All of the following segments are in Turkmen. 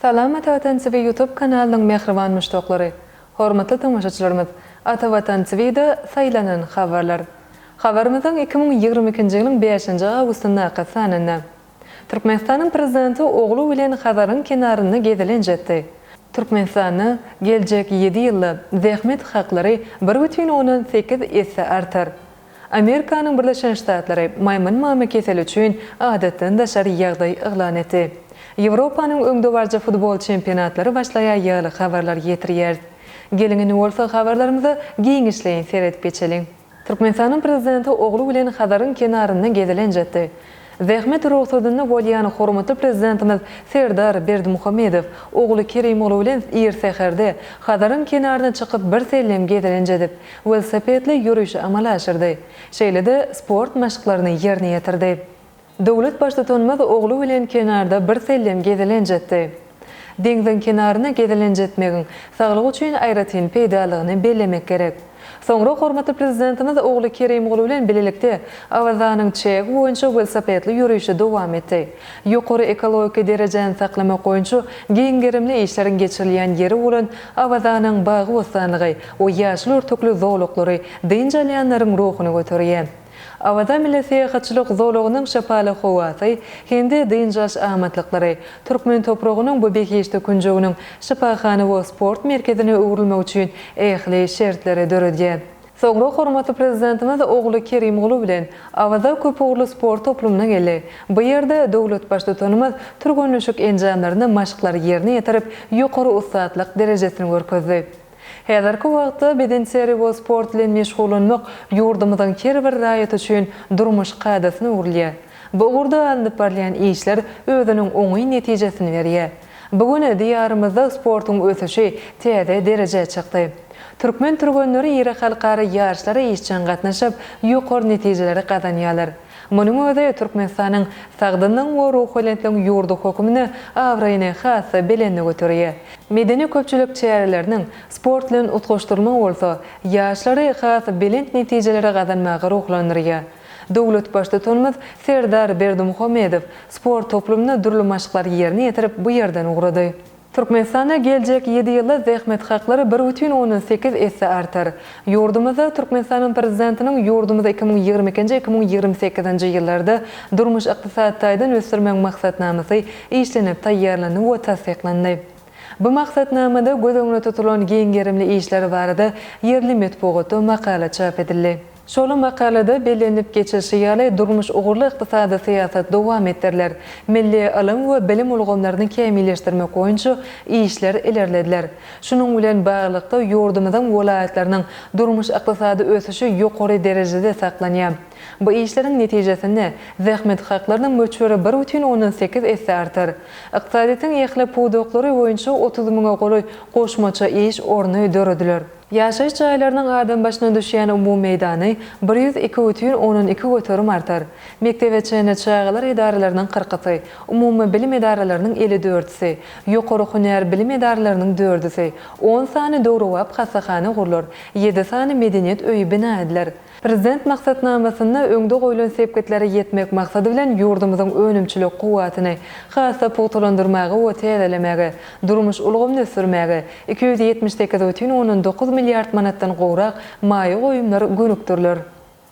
Salam Ata Watan TV Youtube kanalynyň mähriban muşdaklary! Hormatly tomaşaçylarymyz! Ata Watan TVda saýlanan habarlar. Habarymyzyň iki müň ýigrimi ikinji ýylyň bäşinji awgustyndaky sanynda. Türkmenistanyň Prezidenti ogly bilen Hazaryň kenarynda gezelenç etdi. Türkmenistanda geljek ýedi ýylda zähmet haklary bir bütin ondan sekiz esse artar. Amerikanyň Birleşen Ştatlary maýmyn mama keseli üçin adatdan daşary ýagdaý yglan etdi. Ýewropanyň öňdebaryjy futbol çempionatlary başlaýar ýaly habarlar ýetirýäris. Geliň indi bolsa habarlarymyza giňişleýin seredip geçeliň. Türkmenistanyň Prezidenti ogly bilen Hazaryň kenarynda gezelenç etdi. Zähmet rugsadynda bolýan hormatly Prezidentimiz Serdar Berdimuhamedow ogly Kerim ogly bilen ir säherde Hazaryň kenaryna çykyp birsellem gezelenç edip, welosipedli ýörişi amala aşyrdy. Şeýle-de sport maşklaryny ýerine ýetirdi. Döwlet Baştutanymyz ogly bilen kenarda birsellem gezelenç etdi. Deňziň kenaryna gezelenç etmegiň saglyk üçin aýratyn peýdalygyny bellemek gerek. Soňra hormatly Prezidentimiz ogly Kerimguly bilen bilelikde Awazanyň çägi boýunça welosipedli ýörişi dowam etdi. Ýokary ekologik derejäni saklamak boýunça giň gerimli işleriň geçirilýän ýeri bolan Awazanyň bagy-bossanlygy we ýaşyl örtükli zolaklary dynç alýanlaryň ruhuny göterýär. Awaza milli syýahatçylyk zolagynyň şypaly howasy, hem-de dynç alyş amatlyklary, türkmen topragynyň bu behişdi künjeginiň şypahana we sport merkezine öwrülmegi üçin ähli şertleri döredýär. Soňra hormatly Prezidentimiz ogly Kerimguly bilen Awaza köpugurly sport toplumyna geldi. Bu ýerde döwlet Baştutanymyz türgenleşik enjamlaryny maşklary ýerine ýetirip, ýokary ussatlyk derejesini görkezdi. Häzirki wagtda bedenterbiýe sport bilen meşgullanmak ýurdumyzyň her bir raýaty üçin durmuş kadasyna öwrülýär. Bu ugurda alnyp barylýan işler özüniň oňyn netijesini berýär. Bu gün Diýarymyzda sportuň ösüşi täze derejä çykdy. Türkmen türgenleri iri halkara ýaryşlara işjeň gatnaşyp, ýokary netijeleri gazanýarlar. Munuň özi Türkmenistanyň sagdynlygyň we ruhubelentligiň ýurdy hökmünde abraýyny has-da belende göterýär. Medeni-köpçülik çäreleriniň sport bilen utgaşdyrylmagy bolsa ýaşlary has belent netijeleri gazanmaga ruhlandyrýar. Döwlet Baştutanymyz Serdar Berdimuhamedow sport toplumyna dürli maşklary ýerine ýetirip, bu ýerden ugrady. Türkmenistanda geljek ýedi ýylda zähmet haklary bir bütin ondan sekiz esse artar. Ýurdumyzda Türkmenistanyň Prezidentiniň ýurdumyzy iki müň ýigrimi ikinji iki müň ýigrimi sekizinji ýyllarda durmuş-ykdysady taýdan ösdürmegiň maksatnamasy işlenip taýýarlandy we tassyklandy. Bu maksatnamada göz öňünde tutulan giň gerimli işler barada ýerli metbugatda makala çap edildi. Şol makalada bellenip geçilişi ýaly, durmuş ugurly ykdysady syýasat dowam etdiriler, milli ylym we bilim ulgamlaryny kämilleşdirmek boýunça işler ilerlediler. Şunuň bilen baglylykda, ýurdumyzyň welaýatlarynyň durmuş-ykdysady ösüşi ýokary derejede saklanýar. Bu işleriň netijesinde, zähmet haklarynyň möçberi bir bütin ondan sekiz esse artar. Ykdysadyýetiň ähli pudaklary boýunça otuz müňe golaý goşmaça iş orny dörediler. Ýaşaýyş jaýlarynyň adam başyna düşýän umumy meýdany bir ýüz iki bütin ondan iki göterim artar. Mekdebe çenli çagalar edaralarynyň kyrkysy, umumy bilim edaralarynyň elli dördüsi, ýokary hünär bilim edaralarynyň dördüsi, on sany döwrebap hassahana gurlar, ýedi sany medeniýet öýi bina ediler. Prezident maksatnamasynda öňde goýlan sepgitlere ýetmek maksady bilen ýurdumyzyň önümçilik kuwwatyny has-da pugtalandyrmaga we täzelemäge, durmuş ulgamyny ösdürmäge iki ýüz ýetmiş sekiz otyn ondan dokuz milliard manatdan gowrak maýa goýumlar gönükdiriler.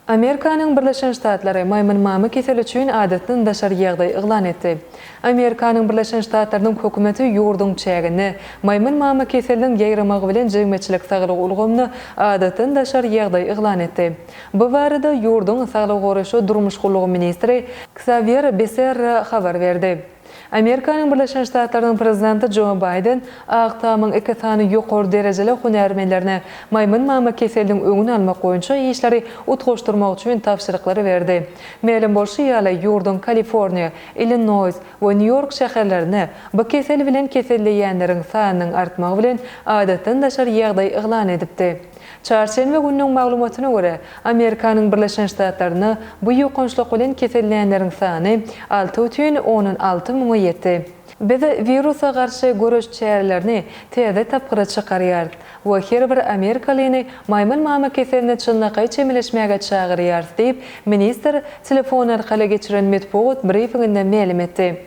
Amerikanyň Birleşen Ştatlary maýmyn mama keseli üçin adatdan daşary ýagdaý yglan etdi. Amerikanyň Birleşen Ştatlarynyň hökümeti ýurduň çäginde maýmyn mama keseliniň ýaýramagy bilen jemgyýetçilik saglygy ulgamyna adatdan daşary ýagdaý yglan etdi. Bu barada ýurduň Saglygy goraýyş we durmuş gullugy ministri Ksawýer Beserra habar berdi. Amerikanyň Birleşen Ştatlarynyň prezidenti Jo Baýden Ak tamyň iki sany ýokary derejeli hünärmenlerine maýmyn mama keseliniň öňüni almak boýunça işleri utgaşdyrmak üçin tabşyryklary berdi. Mälim bolşy ýaly, ýurduň Kaliforniýa, Illinoýs we Nýu-Ýork şäherlerinde bu kesel bilen keselleýänleriň sanynyň artmagy bilen adatdan daşary ýagdaý yglan edipdi. Çarşenbe gününiň maglumatyna görä, Amerikanyň Birleşen Ştatlarynda bu ýokançlyk bilen kesellänleriň sany alty bütin ondan alty müňe ýetdi. Biz wirusa garşy göreş çärelerini täze tapgyra çykarýarys. we her bir amerikalyny maýmyn mama keseline çynlakaý çemeleşmäge çagyrýarys diýip, ministr telefon arkaly geçiren metbugat brifinginde mälim etdi.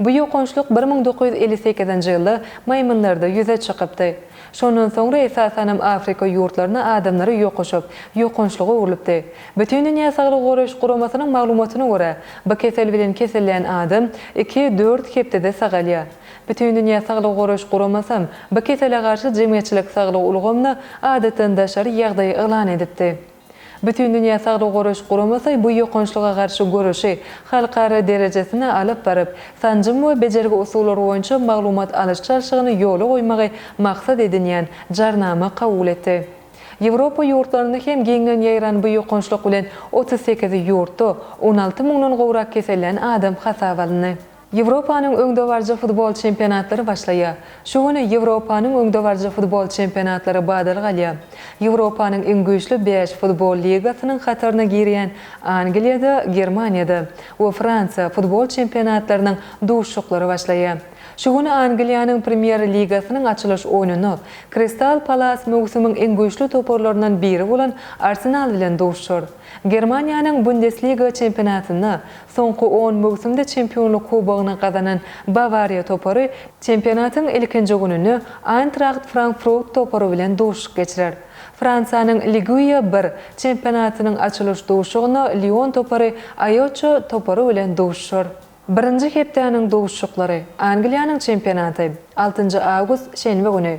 Bu ýokançlyk bir müň dokuz ýüz elli sekizinji ýylda maýmynlarda ýüze çykypdy. Şondan soňra esasanam Afrika ýurtlaryna adamlary ýokuşyp, ýokançlyk öwrülipdi. Bütindünýä saglygy goraýyş guramasynyň maglumatyna görä, bu kesel bilen keselleýän adam iki, dört hepdede sagalýar. Bütindünýä saglygy goraýyş guramasam bu kesele garşy jemgyýetçilik saglygy ulgamyna adatdan daşary ýagdaý yglan edipdi. Bütindünýä saglygy goraýyş guramasy bu ýokançlyga garşy göreşi halkara derejesine alyp baryp, sanjym we bejergi usullary boýunça maglumat alyş-çalşygyny ýola goýmagy maksat edinýän Jarnama kabul etdi. Ýewropa ýurtlarynda hem giňden ýaýran bu ýokançlyk bilen otuz sekiz ýurtda on alty müňden gowrak kesellän adam hasaba alyndy. Ýewropanyň öňdebaryjy futbol çempionatlary başlaýar. Şu gün Ýewropanyň öňdebaryjy futbol çempionatlary badalga alýar. Ýewropanyň iň güýçli bäş futbol ligasynyň hataryna girýän Angliýada, Germaniýada we Fransiýa futbol çempionatlarynyň duşuşyklary başlaýar. Şu gün Angliýanyň Premýer ligasynyň açylyş oýnunda Kristal Palas möwsümiň iň güýçli toparlaryndan biri bolan Arsenal bilen duşuşar. Germaniýanyň Bundesliga çempionatynda soňky on möwsümde çempionlyk kubogyny gazanan Bawariýa topary çempionatyň ilkinji gününde Aýntraht Frankfrut topary bilen duşuşyk geçirer. Fransiýanyň Ligue bir çempionatynyň açylyş duşuşygynda Lion topary Aýoçço topary bilen duşuşar. Birinji hepdäniň duşuşyklary, Angliýanyň çempionaty, altynjy awgust, şenbe güni.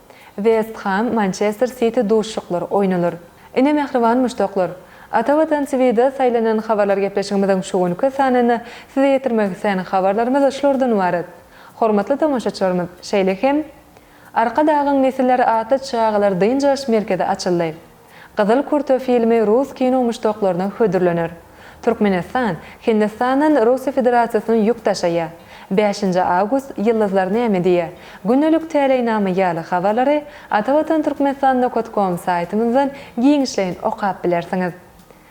West Ham, Mançester Siti duşuşyklary oýnalar. Ine mähriban muşdaklar! Ata Watan TVda saýlanan habarlar gepleşigimiziň şu günki sanynda size ýetirmek islän habarlarymyz şulardan ybarat. Hormatly tomaşaçylarymyz, şeýle hem Arkadagyň nesilleri atly çagalar dynç alyş merkezi açyldy. Gyzyl kurta filmi rus kino muşdaklaryna hödürlener. Türkmenistan Hindistandan Russiýa Federasiýasyna ýük daşaýar. Bäşinji awgust Ýyldyzlar näme diýýär? Gündelik täleýnama ýaly habarlary atavatan Turkmenistan Nokat. Com saýtymyzdan giňişleýin okap bilersiňiz.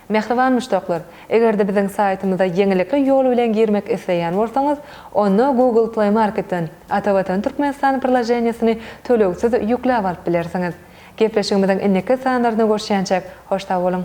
Mähriban muşdaklar, eger-de biziň saýtymyza ýeňillikli ýol bilen girmek isleýän bolsaňyz, onda Google Play Marketden Atavatan Türkmenistan priloženiýesini tölegsiz ýükläp alyp bilersiňiz. Gepleşigimiziň indiki sanlarynda görüşýänçäk, hoş sag boluň!